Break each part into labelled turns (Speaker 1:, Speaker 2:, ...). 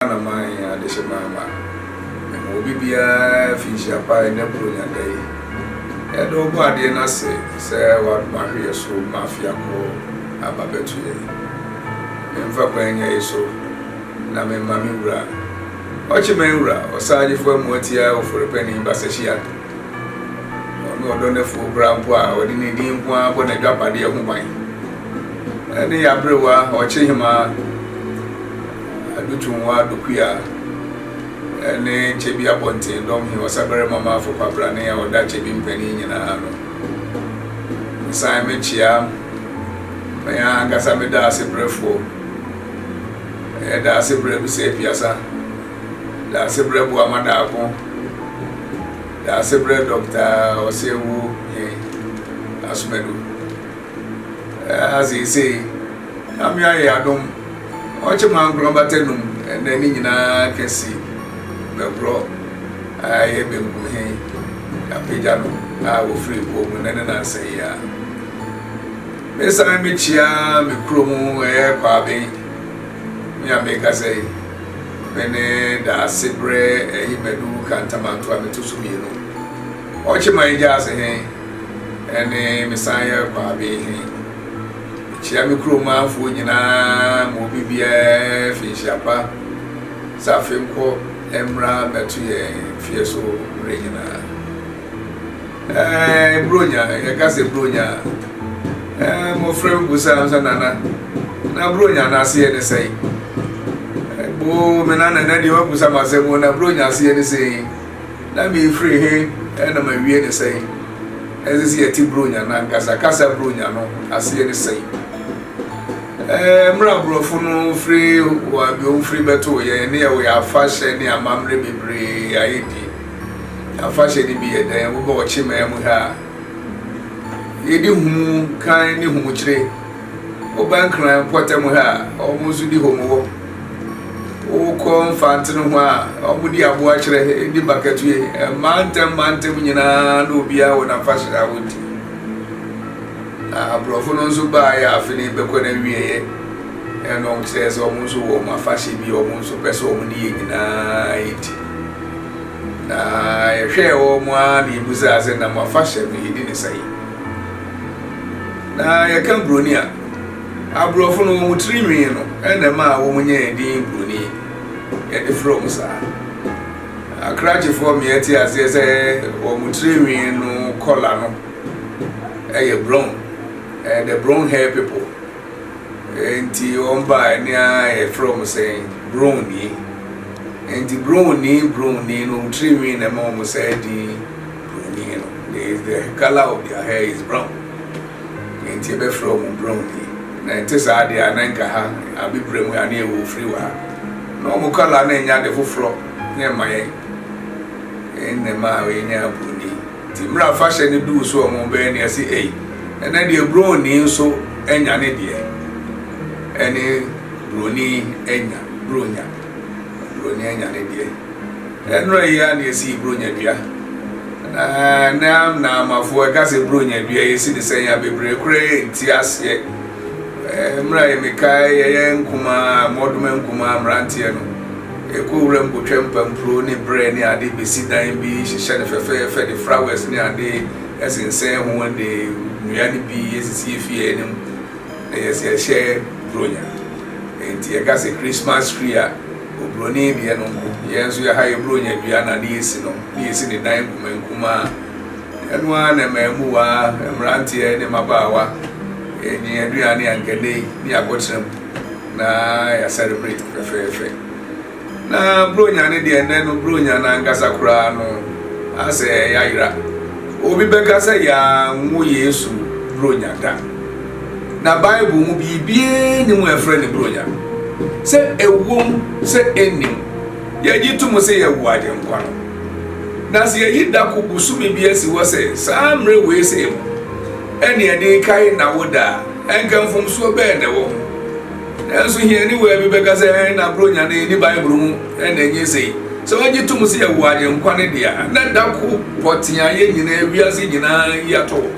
Speaker 1: ara na manyɛ adehye mamma mema obi biara fi nhyia pa ɛnɛ Buronya nna yi. Yɛda Ɔbɔadeɛ no ase sɛ wadom ahwɛ yɛn so ma afe akɔ aba bɛto yɛn. Memfa kwan nya yi so na mema me wura, Ɔkyeman Wura Ɔsaagyefo Amuatia Ofori-Panin Basehyian, ma ɔne ɔdɔ no afuo koraa mpo a ɔde ne din nko ara bɔ n'adwapadeɛ ho ban, ne yɛn aberewa Ɔkyehemaa. Adutunwa Dokuya ne Kyebi Abɔnten Dɔm He Ɔsabarima Maafo Kwabrane a ɔda Kyebi mpanin nyinaa ano. Mesan mekyea me ankasa me Daasebrɛfoɔ. Ɛyɛ Daasebrɛ bisa apiasa, Daasebrɛ Boamadaako, Daasebrɛ Dɔkta Ɔsɛawuo He Asomadu. Ɛha seesei. Nyame ayɛ y'adom ɔkye mo ankora bata num ɛnɛ ne nyinaa kɛse bɛbrɔ ayɛ benku he apagya no a wɔfiri kuo mu nɛ ne nansa yi a me san me kyia me kuro mu ɛyɛ kwaaben me a me kasa yi me ne daase brɛ ɛyi madu kantamanto a me to so mmienu ɔkye man gyaase he ɛne me san yɛ kwaaben he. Mekyia me kurom manfoɔ nyinaa ma obi biara fi nhyia pa sɛ afei nkɔ mmra mmɛto yɛn fie so mmerɛ nyinaa. Ɛɛ Buronya, yɛka sɛ Buronya a, ɛɛ mmɔfra bi busaa me sɛ nana, na Buronya no aseɛ ne sɛn? Boo me nana na deɛ wabusa m'asɛm o, na Buronya aseɛ ne sɛn? Na meefiri he na mawie ne sɛn? Ɛsɛ sɛ yɛte Buronya no ankasa kasa Buronya no aseɛ ne sɛn? Ɛɛ, mmerɛ aborɔfo no firi wɔ abiom firi bɛtoo yɛn ne yɛwɔ yɛn afahyɛ ne amammerɛ bebree a yɛdi. Afahyɛ no bi yɛ dɛn? Woba ɔkyemaa mu ha a, yɛdi humu kan ne humukyire. Woba Nkran mpɔtam ha a, wɔn nso di home wɔ. Wokɔ Mfantsen ho a, wɔde aboa kyerɛ de bakatue. Mantam mantam nyinaa na obiara wɔ n'afahyɛ a wodi. Na Aborɔfo no nso baeɛ a afe no rebɛkɔ no awieeɛ ɛna wɔn kyerɛɛ sɛ wɔn nso wɔ wɔn afahyɛ bi a wɔn nso pɛ sɛ wɔn de yɛ nyinaa di. Na yɛhwɛɛ wɔn ara na yɛbisaa sɛ na mo afahyɛ no yɛdi ne sɛn? Na yɛka buroni a, aborɔfo no wɔn tiri nwi no na ɛma wɔn nyɛ din buroni. Yɛde frɛ wɔn saa. Akrakyefoɔ mmea te aseɛ sɛ wɔn tiri nwi no kɔla no ɛyɛ brown. Ɛyɛ the brown hair people. Nti wɔn ba ɛne a yɛfrɛ wɔn sɛ broni. Nti broni broni no wɔn tiri nwi na ɛma wɔn sɛ din. They is the colour of their hair is brown na nti yɛbɛfrɛ wɔn brown ni na ɛnte saa deɛ a na nka ha abibire mu a na yɛwɔ ofiri wɔ ha na wɔn colour na ɛnyɛ ade foforɔ na ɛma yɛn ɛnna ɛma a yɛnyɛ aburoni nti mmerɛ afahyɛ no duu so wɔn bɛyɛ ne ɛsi ei ɛnɛ deɛ brown ni nso anya ne deɛ ɛne buroni anya bronya Buronya anya ne deɛ. Ɛnora yi ara na yɛsii Buronya dua. Na na Naamafo ɛka sɛ Buronya dua yɛsi ne sɛn a bebree koraa ɛnti aseɛ. Mmerɛ a yɛmekae yɛyɛ nkumaa, mmɔdoma nkumaa mmeranteɛ no, yɛkɔ wuram kɔtwa mpampuro ne berɛ ne ade bɛsi dan bi, hyehyɛ no fɛfɛɛfɛ de flowers ne ade sensɛn ho de nnua no bi sisi yɛn fie anim. Ɛyɛ sɛ yɛhyɛ Buronya. Enti yɛka sɛ Christmas tree a Oburoni deɛ no nko. Yɛn nso yɛha yɛ Buronya dua na ne yɛsi no, ne yɛsi ne dan nkumankumaa. Ɛno ara na ɛma mmuwaa, mmeranteɛ ne mmabaawa nya yɛn aduane a anka ɛnnɛ yi ne yɛakɔtena mu na yɛasɛre mmere fɛfɛɛfɛ. Na Buronya no deɛ, ɛnnɛ no Buronya no ankasa koraa no asɛ yayera. Obi bɛka sɛ yɛanwo Yesu Buronya da. Na Bible mu biribiara nni mu a ɛfrɛ no Buronya. Sɛ ɛwom sɛ ɛnni mu, yɛgye to mu sɛ yɛawo Agyenkwa no. Na sɛ yɛyi dako bosome bi asi hɔ sɛ saa mmerɛ wei sei mu ɛne yɛde rekae N'awoda a, ɛnka mfomsoɔ bɛn na ɛwɔ ho? Nanso hiani waa bi bɛka sɛ, Ɛhe na Buronya no nni Bible mu? Ɛnna enye sei. Sɛ wogye tom sɛ yɛwɔ Agyenkwa no de a, na da ko pɔtee a yɛn nyinaa, wiase nyinaa, yi atɔ hɔ.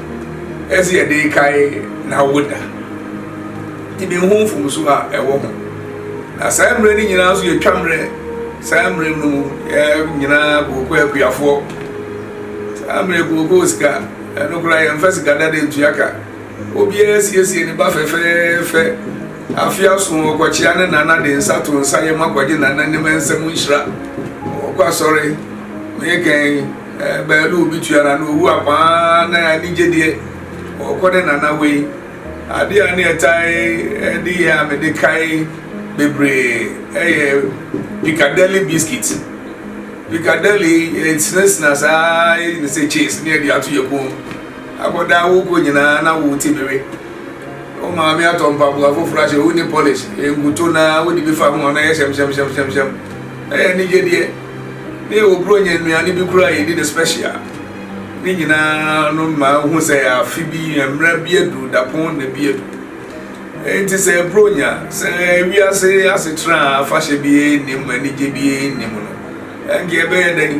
Speaker 1: Ɛyɛ sɛ yɛde rekae n'awoda. Nti minhu mfomso a ɛwɔ ho. Na saa mmerɛ no nyinaa nso yɛtwa mmerɛ. Saa mmerɛ no mu, yɛn nyinaa kookoo akuafoɔ. Saa mmerɛ kookoo sika, ɛno koraa yɛmfa sika dada ntua ka. Obiara siesie ne ba fɛfɛɛfɛ. Afe aso ɔkɔkyea ne nana de nsa to nsa yam akɔgye nananom nsam nhyira. Ɔkɔ asɔre, me kan eh, bɛɛlo obi tua na na owu akwaa na anigye deɛ ɔkɔ ne nana wei. Adeɛ a ne ɛtae eh, de yɛ a mede kae bebree ɛyɛ eh, Piccadilly biscuit. Piccadilly yɛsinasina saa yɛyɛ ne sɛ cheese ne yɛde ato yɛ kɔn mu. Akɔdaa wokɔ nyinaa na wo ti bewe Wo maame atɔ mpaboa foforɔ ahyɛ wo nni polish Nkuto no ara wode bi fa ho a na ɛyɛ hyɛmhyɛmhyɛmhyɛmhyɛm Ɛyɛ anigyedeɛ na yɛwɔ Buronya nnuane bi koraa a yɛdi no special Ne nyinaa no ma wo hu sɛ afe bi mmara bi aduru dapɔn na bi adu Enti sɛ Buronya sɛ wiase asetra a afahyɛ biara nnim anigye biara nnim no Ɛnde ɛbɛyɛ dɛn?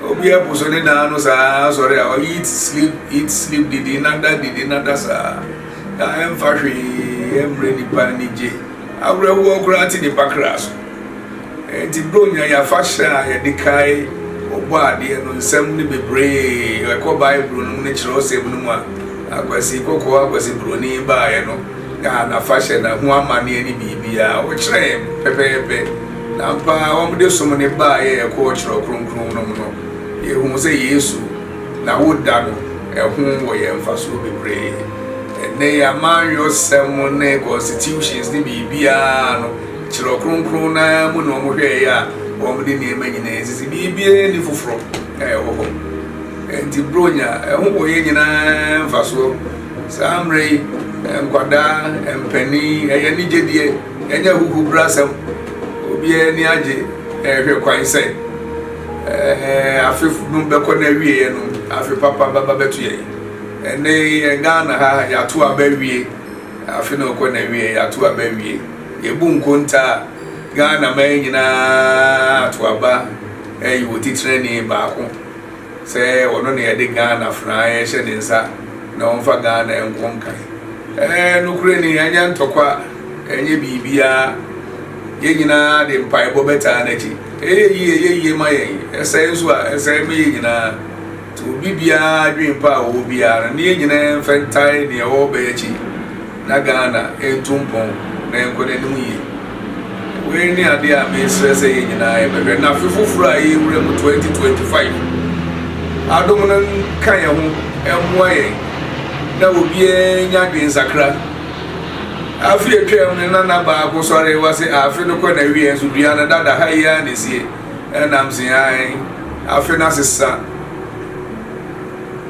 Speaker 1: Obi abu so ne dan no saa ara sɔre a ɔyɛ eat sleep eat sleep didi nada didi nada saa na ɛmfa hwee ɛmmerɛ nipa anigye awerɛhoɔ koraa te nipa kra so. Ɛnti Buronya yɛafahyɛ a yɛde kae ɔbɔ adeɛ no nsɛm no bebree ɛkɔ Bible no mu ne kyerɛwsɛm no mu a Akwasi Kɔkɔɔ Akwasi Buroni baeɛ no kaa n'afahyɛ na ho amanneɛ ne biribiara ɔkyerɛɛ pɛpɛɛpɛ Na ampa ara wɔde som no baeɛ kɔɔ Twerɛ Kronkron no mu no, yɛhuu sɛ Yesu na woda no, ɛho wɔ yɛn mfasoɔ bebree. Ɛnnɛ yi amanyɔsɛm ne constitutions ne biribiara no, Twerɛ Kronkron no ara mu na wɔhwɛeɛ a wɔde nneɛma nyinaa sisi, biribiara nni foforɔ a ɛwɔ hɔ. Ɛnti Buronya, ɛho wɔ yɛn nyinaa mfasoɔ. Saa mmerɛ yi, nkwadaa, mpanin, ɛyɛ anigyedeɛ. Ɛnyɛ ahuhubrasɛm, obiara ani agye rehwɛ kwan sɛ afe no bɛkɔ n'awieeɛ no, afe papa bɛba bɛto yɛn. Ɛnne yɛn Ghana ha, yɛato aba awie, afe no rekɔ n'awieeɛ, yɛato aba awie. Yɛbu nkontaa, Ghana man nyinaa ato aba ayi wɔn titenani baako. sɛ ɔno na yɛde Ghana afenaa yɛhyɛ ne nsa na ɔmfa Ghana nkɔ nkan. Ɛɛ, nokorɛ ni, ɛnyɛ ntɔkwa, ɛnyɛ biribiara. Yɛn nyinaa de mpaebɔ bɛtaa n'akyi. Ɛyɛ yie, ɛyɛ yie ma yɛn. Ɛsɛe nso a, ɛsɛe ma yɛn nyinaa. Nti obi biara adwene pa a ɔwɔ biara no, ne yɛn nyinaa mfa ntae deɛ ɔrebɛyɛ akyi. na Ghana ntu mpɔn na ɛnkɔ n'anim yie. Wei ne adeɛ a mesrɛ sɛ yɛn nyinaa yɛbɛhwɛ na afe foforɔ a yɛrewura mu 2025 adom no nka yɛn ho mmoa yɛn na obiara nya adwensakra. Afe a atwam no na nna baako sɔre wa se afe no kɔ n'awieɛ nso dua no dada ha yi ara na esie ɛnam se ae afe no asesa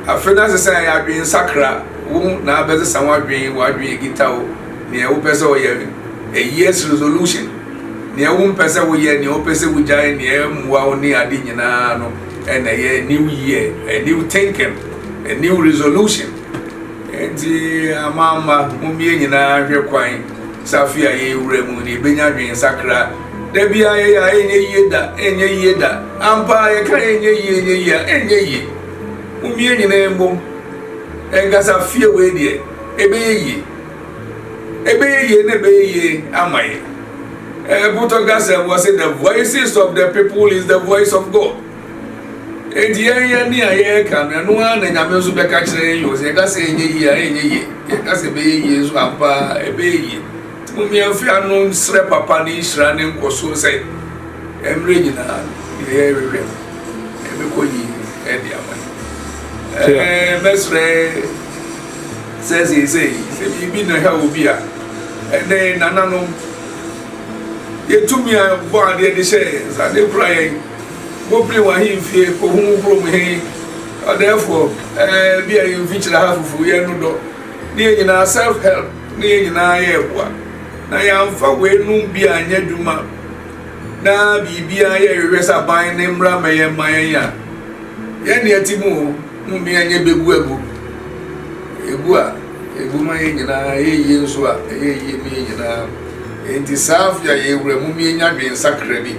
Speaker 1: afe no asesa yɛn adwensakra. Wo na abɛsesa w'adwen, w'adwen agita wo, nea wopɛ sɛ ɔyɛ no, a year's resolution, nea wompɛ sɛ woyɛ, nea wopɛ sɛ wogyae, nea ɛmmoa wo ne ade nyinaa no ɛna ɛyɛ a new year, a new thinking, a new resolution. Enti ama ama mommie nyinaa nhwɛ kwan sɛ afe a yɛrewura mu no yɛbɛnya adwensakra. Da biara yɛyɛ a ɛnyɛ yie da, ɛnyɛ yie da. Ampa ara yɛka ɛnyɛ yie, ɛnyɛ yie a, ɛnyɛ yie. Mommie nyinaa mmom. Ɛnkasa fie wei deɛ ɛbɛyɛ yie ɛbɛyɛ yie na ɛbɛyɛ yie ama yɛ ɛbotɔ gasa mu ɔsɛ the voices of the people is the voice of God enti yɛn yɛ ne a yɛreka no ɛno ara na nyame nso bɛka kyerɛ yɛn yɛ ɔsɛ yɛka sɛ ɛnyɛ yie a ɛnyɛ yie yɛka sɛ ɛbɛyɛ yie nso ampa ɛbɛyɛ yie Momma yɛmfi ano nsrɛ Papa ne nhyira ne nkɔsoɔ sɛ mmerɛ nyinaa deɛ yɛrehwehwɛ no ɛbɛkɔ yie de ama yɛn. Mɛsrɛ sɛ seesei sɛ biribi na ɛha obi a, ɛnɛ nananom yɛtumi a bɔ adeɛ de hyɛ yɛn nsa de kura yɛn mopene wɔ ahemfie kɔhu kurom he ɔdɛɛfoɔ bi a yɛmfikyerɛ ha fufuo yɛn no dɔ ne yɛ nyinaa self help ne yɛn nyinaa yɛɛ boa, na yɛamfa weinom bi anyɛ adwuma, na biribiara a yɛhwehwɛ sɛ aban ne mmara mmɛyɛ mma yɛn a, yɛn deɛ te mu o, mmom yɛn nyɛ bɛgu agu. Ɛgu a, ɛgu ma yɛn nyinaa, ɛyɛ yie nso a, ɛyɛ yie ma yɛn nyinaa. Enti saa afe a yɛwura mu no, yɛnya adwensakra bi.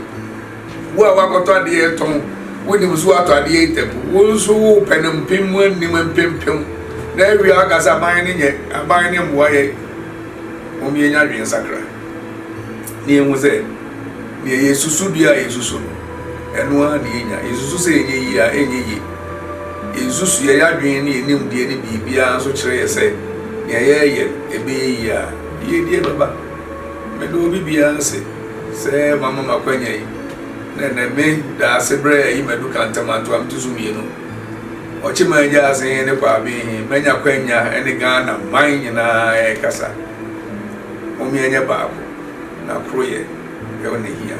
Speaker 1: Wo a woakɔtɔ adeɛ retɔn, wonim so woatɔ adeɛ yi tɛp, wo nso wopɛ no mpem mu anim mpempem, na awie a woka sɛ aban no nyɛ, aban no mmoa yɛn. Mom yɛnya adwene nsakra na yɛhu sɛ deɛ yɛsusu dua a yɛsusu no, ɛno ara na yɛnya. Yɛsusu sɛ yɛnyɛ yie a, ɛnyɛ yie. Yɛnsusu yɛyɛ adwene ne yɛnim deɛ ne biribiara nso kyerɛ yɛ sɛ deɛ yɛyɛ ɛbɛyɛ yie a, yɛdie bɛba. Meda obi biara ase sɛ wama me akwanya yi, na ɛnnɛ me da ase berɛ ayi madu Kantama ntoam ti so mmienu, Ɔkyeman Agyaase he ne Kwabee he. Manya kwanya ne Ghana man nyinaa rekasa. Hom yɛnyɛ baako, na koroyɛ ne hia.